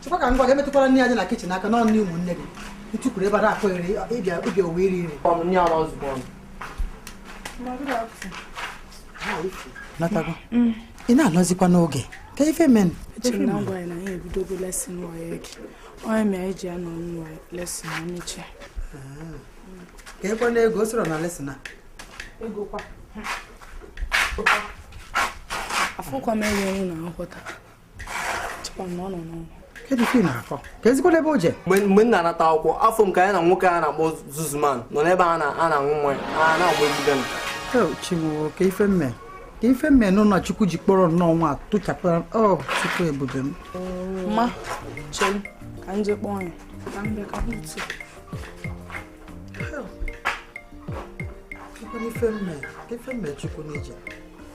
chekwa ka ngwa gaa metụkwara nni a dị na kitchen aka n'ọnụ nni ụmụnne gị ntukwuru ebe a na-akụ ere ịbịa obi owe iri iri natago mm. ị na-anọzikwa n'oge kee ife menụ ka ekwe na ego o soro na lesson a afụkwa m enye unu na nghọta mgbe m na-anata akwụkwọ afụ m ka ya na nwoke a na-akpọ Zuzuman nọ n'ebe a na-aṅụ mmanya a na-agba egide m kee ife m mee nụ na chukwu ji kpọrọ nnọọ nwa tụchapụra ọ chukwu ebube m ma chere ka m jee kpọọ ya ife m mee chukwu n'ije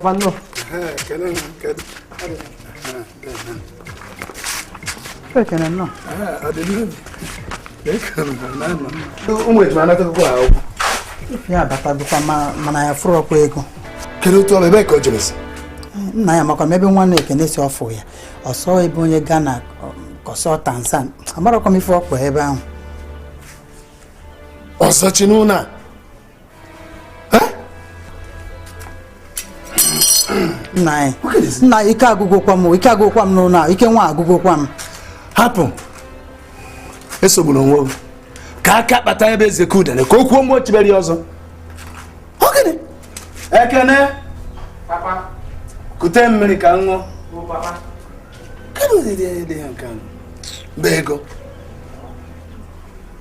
Vanno. Eh, che non che. Perché non no? Ah, adesso. Ecco, non no. Un momento, ma andate qua. Ya bata bụkwa mana ya fụrụ ọkwa ego. Kedu otu ọrụ ebe ka o jere si? Nna ya amakwa m ebe nwanne Ekene si ọfụ ya. Ọ sọ ebe onye Ghana kọsọ Tanzania. Amarakwa m ife ọkwa ebe ahụ. Ọsọ chi n'ụlọ a. nna anyị nna ike agwụgokwa m ike agwụgokwa m n'ụlọ a ike nwa agwụgokwa m hapụ esogburu onwe gị ka aka kpata ebe eze ka udene ka o kwuo mgbe o chibere ya ọzọ Ekene Ekene kute mmiri ka m ṅụọ kedu ụdị dị ya nke a bụ ego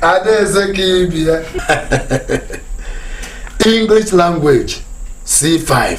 adaeze ka ibi ya english language c5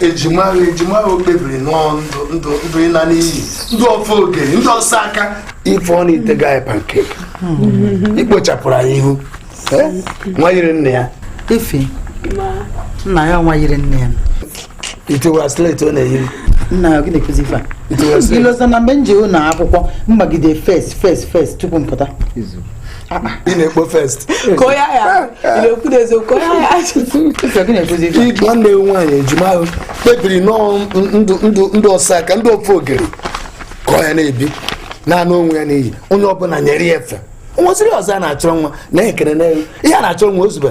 ejima ejima ahụ kpebiri nọọ ndụ ndụ ndụ ịla n'iyi ndị ofe ogeri ndị ọsọ aka ife ọ na-etega anyị pancake ikpochapụrụ anyị ihu Eh? nwa yiri nne ya ife nna ya nwa yiri nne ya itiwa slate ọ na-eyiri nna ya gị na-akụzi ife a itiwa slate i lozona mgbe m je ụlọ akwụkwọ m gbagide first first first tupu m pụta ị na-ekpo first ka onye ahịa na-ekwu n'eziokwu ka onye ahịa idu nwanne ya nwaanyị ejima ahụ kpebiri nọọ ndụ ndụ ndụ ọsọ aka ndị ofe ogeri ka ọ ya na-ebi naanị onwe ya n'iyi onye ọbụla nyere ya efe nwesịrị ọzọ a na-achọ nwa na-ekere na ihe a na-achọ nwa ozugbo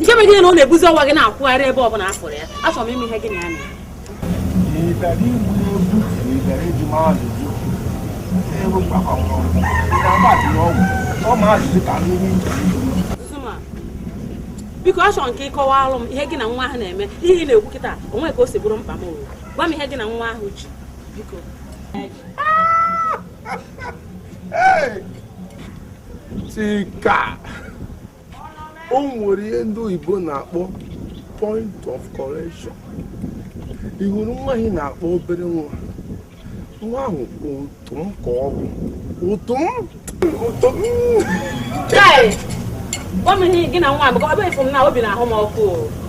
nke mere gịnị na ọ na-ebuzi ọwa gị na-akwụgharị ebe ọ bụla afụrụ ya achọrọ m ịma ihe gị na ya na-eme biko achọrọ m ka ị kọwalụ m ihe gị na nwa ahụ na-eme ihe ị na-ekwu kịta o nwe ka o si bụrụ mkpa m owu gwa m ihe gị na nwa ahụ ji biko Chika o nwere ihe ndị oyibo na-akpọ point of correction ị hụrụ nwa ahụ ị na-akpọ obere nwa nwa ahụ ụtụ m ka ọ bụ ụtụ m ụtụ m Kai! Gwa m ihe gị na nwa m, ọ bụ efu m na obi na-ahụ m ọkụ. o.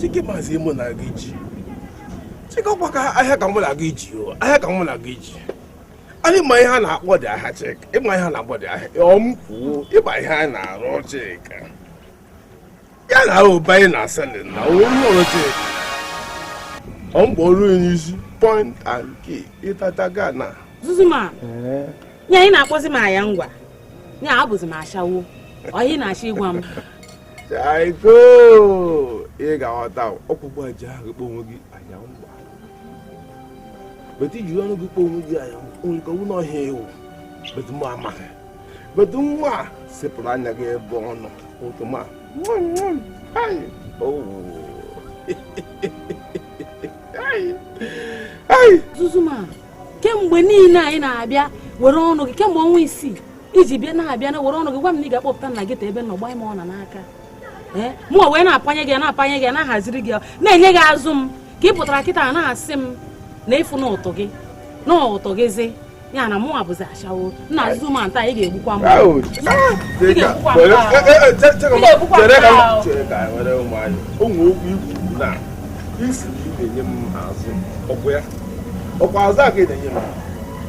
chika ị mazi ihe mụ na gị ji chika ọkwa ahịa ka mụ na gị ji o ahịa ka mụ na gị ji a ị ma ihe a na-akpọ di ahịa chika ị ma ihe a na-akpọ di ahịa ọm kwuo ị ma ihe a na-arụ chika ya na ụba anyị na asịlị na onye ọrụ chika ọ mgbe ọrụ onye isi point and kill ịtata gana zuzuma ya ị na-akpọzi m aya ngwa ya abụzi m ashawo ọ ihe ị na-achọ ịgwa m Chaiko ị ga-aghọta ọkpụkpụ aja ahụ kpọ onwe gị aya ngwa but ị ji ọnụ gị kpọ onwe gị anya onye ka nwunye ọhịa ewu but mụ amaghị but nwa sepụrụ anya gị ebe ọ nọ ụtụ m a Zuzuma kemgbe niile a ị na-abịa were ọnụ gị kemgbe ọnwa isii ị ji bịa na-abịa na were ọnụ gị gwa m na ị ga-akpọpụta nna gị ta ebe nọ gbaa m ọna n'aka eh, mụ wee na-apanye gị na-apanye gị na-ahaziri gị na-enye gị azụ m ka ị pụtara kịta na-asị m na ị fụna ụtụ gị na ụtụ gịzi ya na mụwa bụzi ashawo nna Zuzuma ta ị ga-egbukwa m ị ga-egbukwa m ọkwa azụ a ga-enye m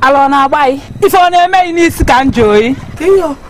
ala ọ na-agba gị ife ọ na-eme gị n'isi ka m jụọ gị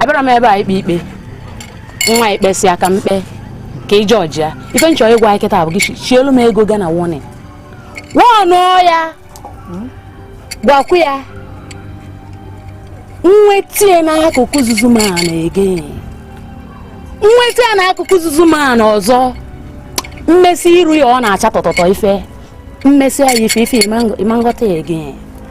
abịarọ m ebe a ikpe ikpe nwa ị kpesịa ka m kpe ka ị judge ya ife m chọ ịgwa gị kịta bụ gị chielu m ego gana warning warnụọ ya gwakwu ya nwetie n'akụkụ Zuzuma na-ege nweta ya n'akụkụ Zuzuma na ọzọ m mesi iru ya ọ na-acha tọtọtọ ife m mesi ya ife ife ị ma-aghọta ya ege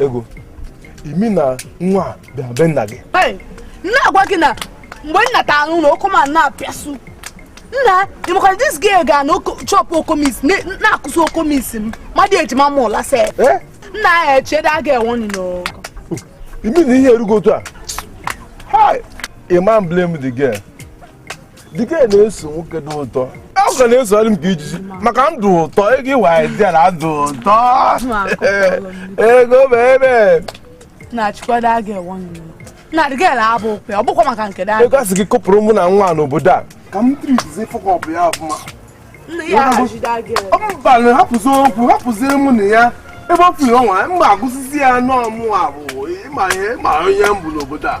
ego ị mean na nwa bịa be nna gị na-agwa gị na mgbe nna ta anụ na ọkụ ma na-apịasụ nna ịmakwana this girl ga na chọpụ okomis na-akụsị okomis m mmadụ ejima m ụla se eh? nna ya echede a ga-enwe ọnụ n'ogo ị mean na ihe erugo otu a Hi, a ma m blame the girl. the girl na-eso nwoke dị ụtọ ọ ga na-esogharị m ka ijiji maka ndụ ụtọ ego ịwa idea na ndụ ụtọ ego bebe na chikwado aga ewe na the girl abụ okwe ọ bụkwa maka nke ego asị gị kụpụrụ mụ na nwa n'obodo a ka m treatizie fuck up ya ọfụma mba na hapụzi okwu hapụzie mụ na ya ebe ọ pụrụ ọnwa mgbe agụsịzi ya n'ọmụ abụ ịma ihe ma onye m bụ n'obodo a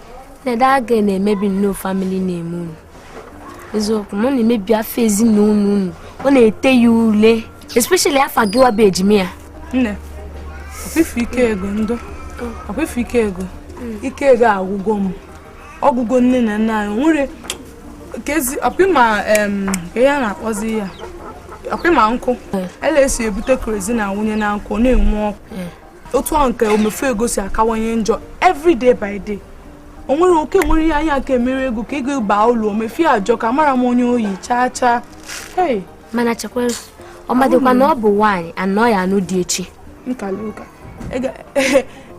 Nne that girl na-emebi nnọọ family name unu eziokwu na ọ na-emebi afa ezinụlọ unu ọ na-ete ya ule especially afa gịwa bụ ejima ya nne ọkwa ị fụ ike ego ndụ ọkwa ị fụ ike ego ike ego agwụgo m ọ gwụgo nne na nna anyị nwere kezi ọkwa ị ma ihe a na-akpọzi ya ọkwa ị ma nkụ ele esi ebute kerosene na-awụnye na nkụ na-enwu ọkụ otu ahụ ka omefu ego si akawanye njọ every day by day o nwere ike nwere ihe anyị ka emere ego ka ego baa ụlọ omefie ajọka amarọ m onye o yi chaa chaa hey mana chekwara ọ madịkwa na ọ bụ nwaanyị na ọ ya-anụ di echi nkala ụka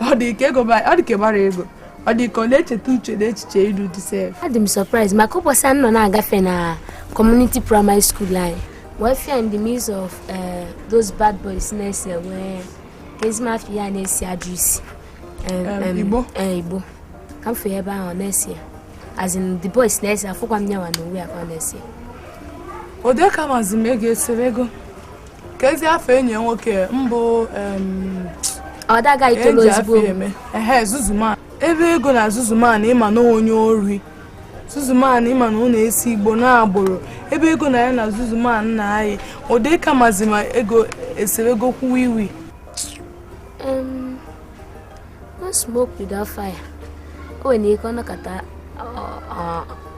ọ dị ka ego ba- ọ dị ka ịgbara ego ọ dị ka ọ na-echeta uche na echiche ịlụ di sef adị m surprise maka ụbọchị a m nọ na-agafe na community primary school anyị wee fụ ya in the midst of eh, those bad boys na-ese weed ezigbo afe ya na-esi ajọ isi igbo igbo ka m fee ebe ahụ ọ na-esi ya as in the boys na-ese afụkwa m nyawa na uwe ya ka ọ na-esi ode ka mazi ma ego eserego kezi afa enyi ya nwoke mbụ ọdaga itolo ozugbo ehe zuzuman ebe ego na zuzuman ị ma na onye ori zuzuman ị ma na ọ na-ese igbo na agboro ebe ego na ya na zuzuman na-ayị ode ka mazi ma ego eseregokwa weed no smoke without fire o nwere ike ọ nọkata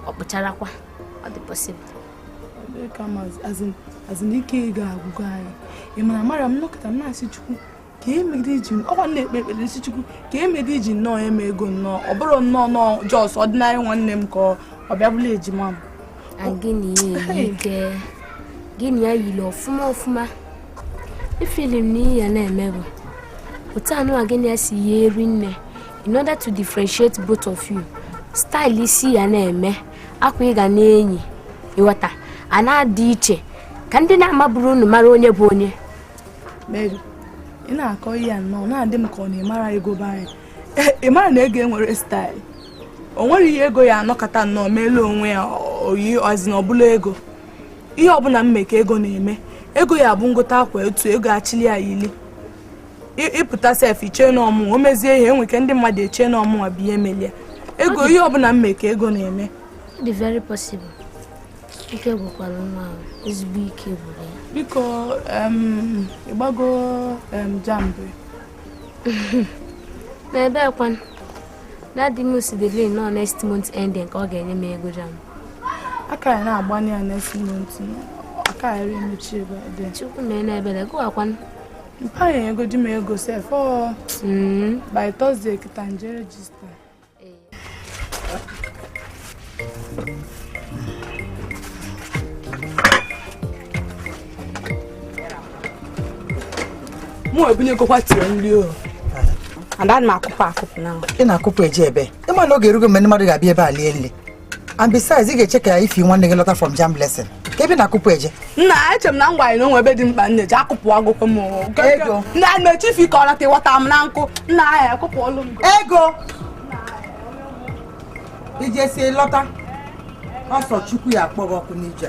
ọ kpụcharakwa ọ dị possible as in ike ego agwụgo anyị ị mara mara m nọkata m na-asị chukwu ka emegide iji ọkwa na-ekpe ekpere sị chukwu ka emegide iji nnọọ eme ego nnọọ ọ bụrụ nnọọ nọọ just ordinary nwanne m ka ọ bịa bụrụ ejima m gịnị ike gị na ya yiri ọfụma ọfụma efeel m na ihe ị ya na-eme bụ otu anụwa gị na ya si yie eyi nne in order to differentiate both of you style isi ị ya na-eme akwa ị ga na-eyi ị ghọta a na-adị iche ka ndị na-amaburu unu mara onye bụ onye Mary ị na-akọ ihe a nnọọ na-adị m ka ọ na-emara ego be anyị eh, ị mara na ego enwerọ staịlụ o nwerọ ihe ego ya anọkata nnọọ meelu onwe ya oyi ọzi na ọbụla ego ihe ọbụla m me ka ego na-eme ego ya bụ m gote akwa etu ego achili ya yili ị pụta sef i che na ọ mụa o mezie ihe enweke ndị mmadụ eche na ọ mụwa bụ ihe melie ego ihe ọbụla m me ka ego na-eme ike gwụkwara nwa ahụ ezigbo ike gwụrụ ya biko ị gbago jamb n'ebe ekwan dadi m si the lane na ọ next month ending ka ọ ga-enye m ego jamb aka ya na-agbanye ya next month aka ya ri emechi ebe a dị chukwu mee n'ebere gụwakwan mpa nyegodi m ego sef ọ hmm. by Thursday kịta m je rejista mụ ebunyegokwa tiri nri o ada m akụpụ akụpụ na ị na-akụpụ eje ebe ị ma na oge erugo mgbe ndị mmadụ ga-abịa ebe a lie nri and besides ị ga-eche ka ifi nwanne gị lọta from jamb lesson kee ebe ị na-akụpụ eje nna eche m na m gwa gị na o nwe ebe dị mkpa m na-eje akụpụ agụkọ m ego nna m eche ifi ka ọ lọta ịghọta m na nkụ nna ahịa akụpụ ọlụ m ego i jesi lọta ọsọ chukwu ya akpọ gị ọkụ n'ije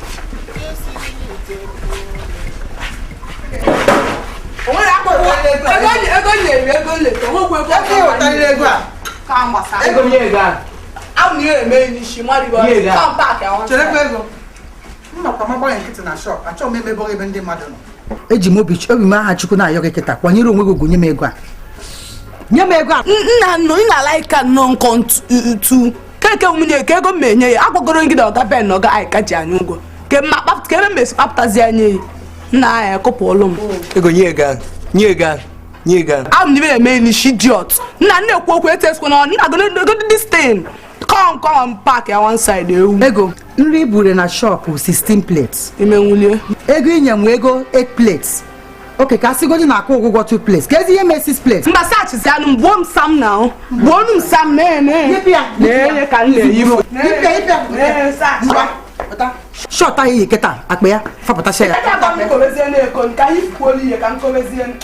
eji m obi m aha chukwu na-ayọ gị kịta kwanyere onwe gị ugwu nye m ego a nye m ego a nna nna ị na-alaịka nnọọ nkọ ntu keke nwunye ka ego m enye ya agwago m gị na ọga ben na ọga anyị ka ji anyị ụgwọ kee ebe m esi kpapụtazi ya nye gị nna anyị akụpụ ọlụ m ego nye ego ahụ nye ego ahụ nye ego ahụ ahụ n'ibe na-eme n'ishi idiot nna na-ekwu okwu etesikwa na ọ nna godo dis tin kọm kọm pak ya one side ewu ego nri i buru na shọpụ 16 plates imenwulie ego i nye m ego 8 plates oke ka a sịgodi na-akwụ ụgwọ 2 plates kezi ihe mee 6 plates mba sachizi anụ m gbuo m sam na ahụ gbuo m sam mee mee Yipụ ya, yipụ ya. na-enye ka m na-eyi m Ipe, ipe, Ee, saa. ngwa, pụta. shọt ahụ i yi kịta akpa ya fapụtacha ya Aka agba m kobezie na-eko ka anyị kwuo ihe ka m kobezie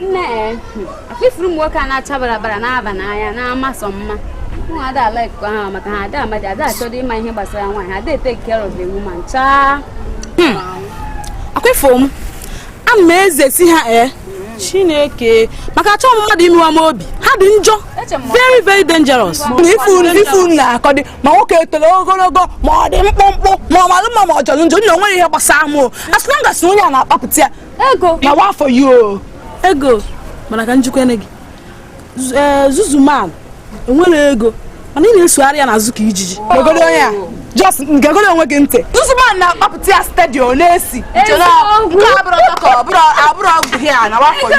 nne ọkwa ị fụrụ ụmụ nwoke a na-acha barabara na-aba n'anya na-ama sọ mma mụnwa ada a-like ha maka ha ada amadi ada achọdị ịma ihe gbasara nwaanyị ada e-take care of the woman chaa hmm. ọkwa ị fụ m ana m ezesi ha ee eh, chineke maka achọ m mmadụ imewa m obi ha dị njọ very very dangerous ifu na akọdị ma nwoke o toro ogologo ma ọ dị mkpụmkpụ ma ọ malụ mma ma ọ jọrọ njọ nna onwere ihe gbasara m as long as onye a na-akpapụta ya ego na wa for you ego mana ka m jikwa ene gị eh, zuzuman enwere ego mana ị na-esogharị ya n'azụ ka ijiji gegoro onye a just gegoro onwe gị ntị zuzuman na-akpapụta ya steady ọ na-esi nke abụrụ ọ bụghị ya na wa for you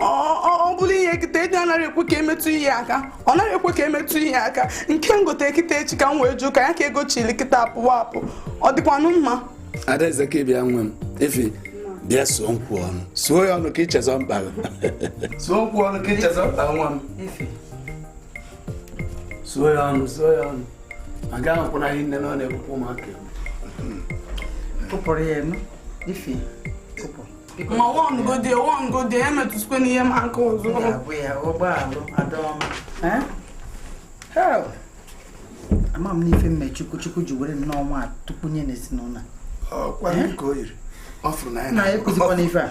ọ bụrụ ihe kịta eji anaghị ekwe ka emetụ ihe aka ọ naghị ekwe ka emetụ ihe aka nke m gote kịta echi ka m wee jụụ ka ya ka ego chili kịta apụwa apụ ọ dịkwanụ mma adaeze ka bịa nwa m efi bịa suo nkwụ ọnụ suo ya ọnụ ka ichezọ mkpa suo nkwụ ọnụ ka ichezọ mkpa nwa m suo ya ọnụ suo ya ọnụ aga ahụkwụna ihe nne na ọ na-ekwukwa ụmụaka kụpụrụ ya enu ife ma wọngode wọngode emetụzikwana ihe m aka ọzọ abụ ya ụgbọalụ adaọma ama m n'ife m mee chukwu chukwu ji were nnọọ nwa tupu nye n'ezinụlọ ọkwa ka o yiri ọ fụrụ na ya na-ekwuzikwa n'ife a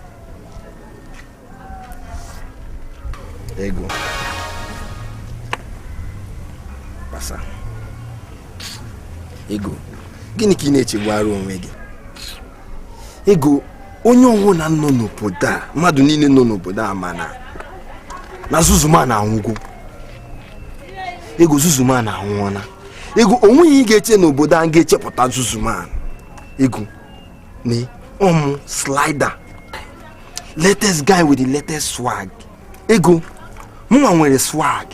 ego kpasa ego gịnị ka ị na-echegbara onwe gị ego onye ọwụna nọ n'obodo a mmadụ niile nọ n'obodo a mana na zuzuman anwụgo ego zuzuman anwụọna ego onweghị ihe ị ga-eche n'obodo a ga-echepụta zuzuman ego nee ọ mụ slider latest guy with the latest swag ego mụnwa nwere swag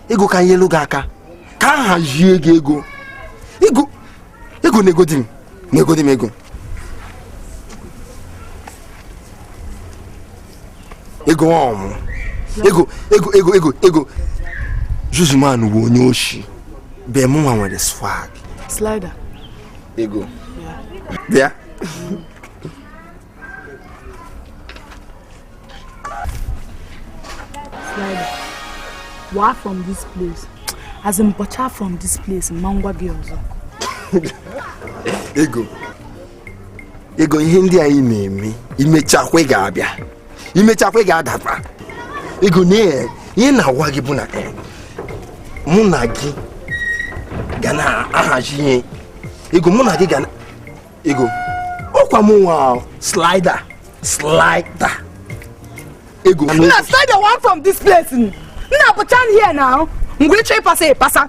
ego ka m nyelu gị aka ka m hazie gị ego ego ego negodi m negodi m ego ego ọ mụ ego ego ego ego ego zuzuman bụ onye oshi but mụnwa nwere swag slider ego bịa walk from this place as in bọcha from this place ma m gwa gị ọzọ ego ego ihe ndị anyị na-eme imechakwa ị ga-abịa imechakwa ị ga-adakwa ego na ihe na-agwa gị bụ na eh, mụ na gị ga na-ahazi ihe ego mụ na gị ga na ego ọkwa m nwa Slider Slider ego na Slider one from this place nna pụta here now mgbe ịchọ ịpasa ịpasa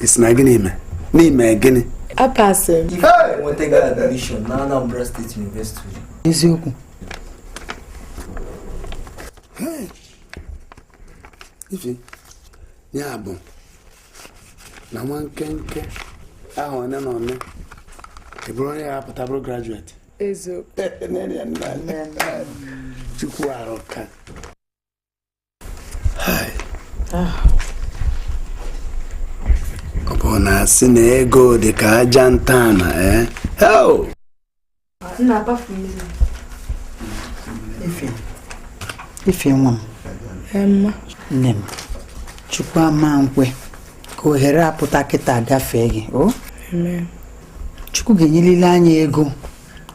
ị sị na gịnị ime n'ime gịnị apasị eziokwu ife ya bụ na nwa nkenke ahọ one na one ị bụrụ onye ya-apụta bụrụ graduate chukwu arụka ọ bụ na asị na ego dị ka aja ntana ee ife nwa m nne m chukwu ama nkwe ka ohere a pụta kịta gafee gị o chukwu ga-enyelile anyị ego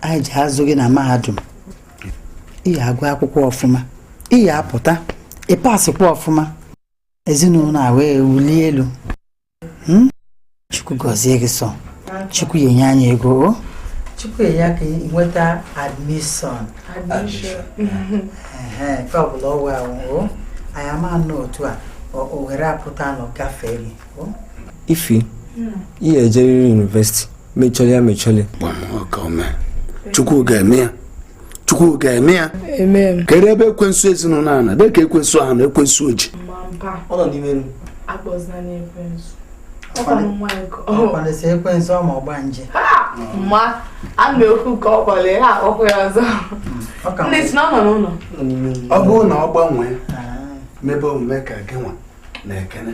anyị ji azụ gị na mahadum ị ya-agụ akwụkwọ ọfụma ị ya-apụta ịpasịkwa ọfụma ezinụlọ a wee wulie elu Hmm? chukwu gọzie gị sọ chukwu ya-enye anyị ego o chukwu ya ka ị nweta admission ehe nke ọbụla ọwụ awụ o anyị ama anọ otu a o- ohere a pụtanụ gafee gị o ife ị ga-ejeriri university mechọrọ ya mechọrọ chukwu ga-eme ya chukwu ga-eme ya kedu ebe ekwensu ezinụlọ a nọ dị ka ekwensu ahụ nọ ekwensu ojii ma ama ekwu ka ọ kpọrọ ya ọkụ ya ọzọ ndị sị na ọ nọ n'ụlọ ọ bụrụ na ọ gbanwee mebe omume ka gị nwa na ekene